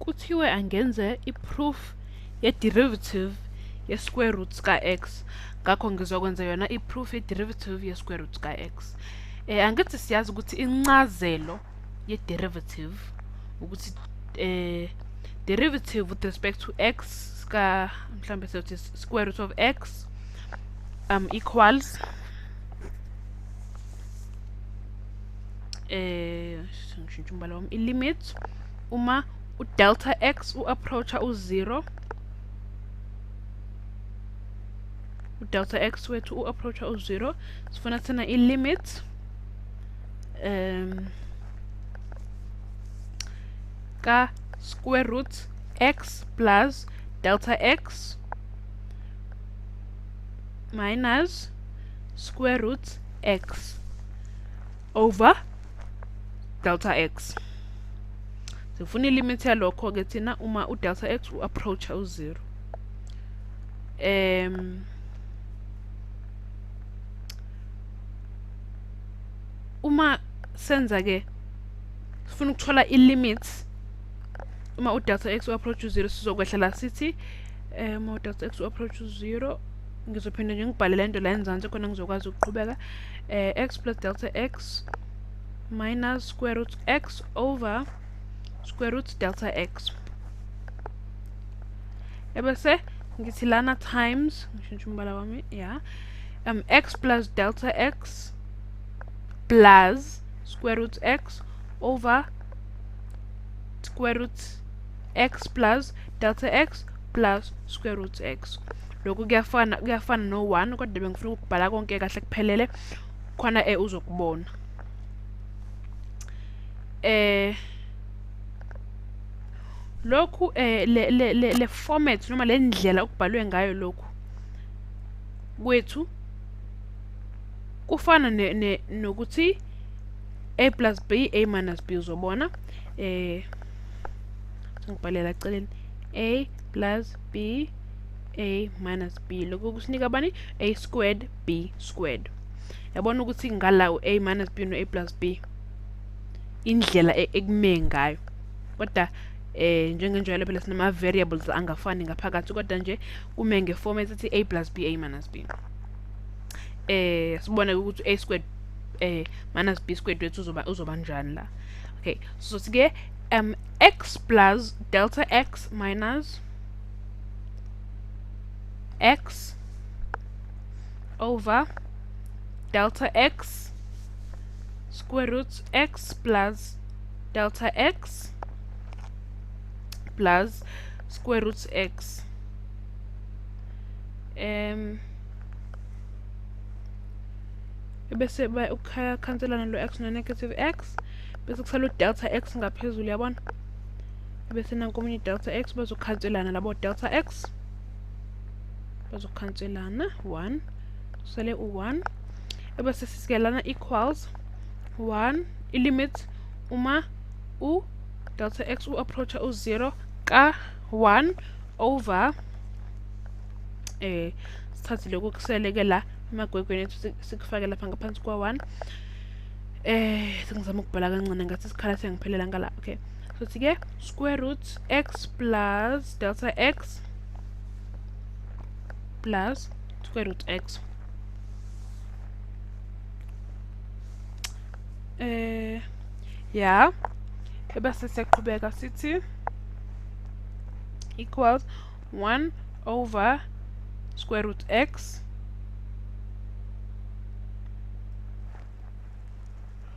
kuthiwe angenze i-proof ye-derivative ye-square root ka-x ngakho ngizokwenza yona i-proof ye-derivative ye-square root ka-x eh angithi siyazi ukuthi incazelo ye-derivative ukuthi eh derivative with respect to x ka mhlambe sothi square root of x um equals eh ngishintsha umbala wami i-limit uma u-delta x u-approacha u-zero u-delta x wethu u-approacha u-zero sifuna thina i-limit um ka square root x plus delta x minus square root x over delta x sifuna ilimit yalokho ke thina uma u delta x u approach u 0 em uma senza ke sifuna ukuthola i limit uma u delta x u approach u 0 sizokwehla la sithi em u delta x u approach u 0 ngizophinde nje ngibhale lento la enzansi khona ngizokwazi ukuqhubeka uh, x plus delta x minus square root x over square root delta x ebese ngithi lana times ngishintsha umbala wami ya um x plus delta x plus square root x over square root x plus delta x plus square root x lokhu kuyafana kuyafana no 1 kodwa bengifuna ukubhala konke kahle kuphelele khona eh uzokubona eh lokhu eh le le le format noma le ndlela okubhalwe ngayo lokhu kwethu kufana ne, ne nokuthi a plus b a minus b uzobona eh ngibhalela eceleni a plus b a minus b lokho kusinika bani a squared b squared yabona ukuthi ngala u-a minus b no-a plus b indlela e-, ekume ngayo kodwa eh njengenjalo phela sinama-variables angafani ngaphakathi kodwa nje kume ngefomu esithi a plus b a minus b eh sibone ukuthi a squared eh minus b squared wethu uzoba uzoba njani la okay so sike um x plus delta x minus x over delta x square root x plus delta x plus square root x um bese ukhanselana lo x no negative x bese kusala udelta x ngaphezulu yabona bese nanku omunye delta x bazokhanselana labo delta x bazokhanselana 1 kusele u-1 ebese sisikelana equals 1 i-limit uma u-delta x u-approacha u-0 ka-1 over eh sithathe lokhu kuseleke la emagwegweni ethu sikufake lapha ngaphansi kwa-1 eh sengizama ukubhala kancane ngathi isikhala siyangiphelela ngala okay futhi ke square root x plus delta x plus square root x eh ya ebese siyaqhubeka sithi equals 1 over square root x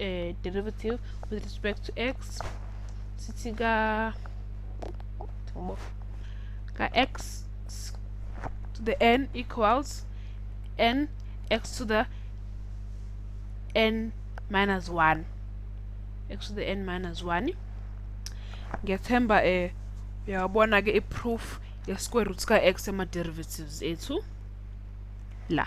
uh, derivative with respect to x sithi ka ka x to the n equals n x to the n minus 1 x to the n minus 1 ngethemba um eh, uyawabona ke i-proof ye-square root ka-x ema-derivatives ethu la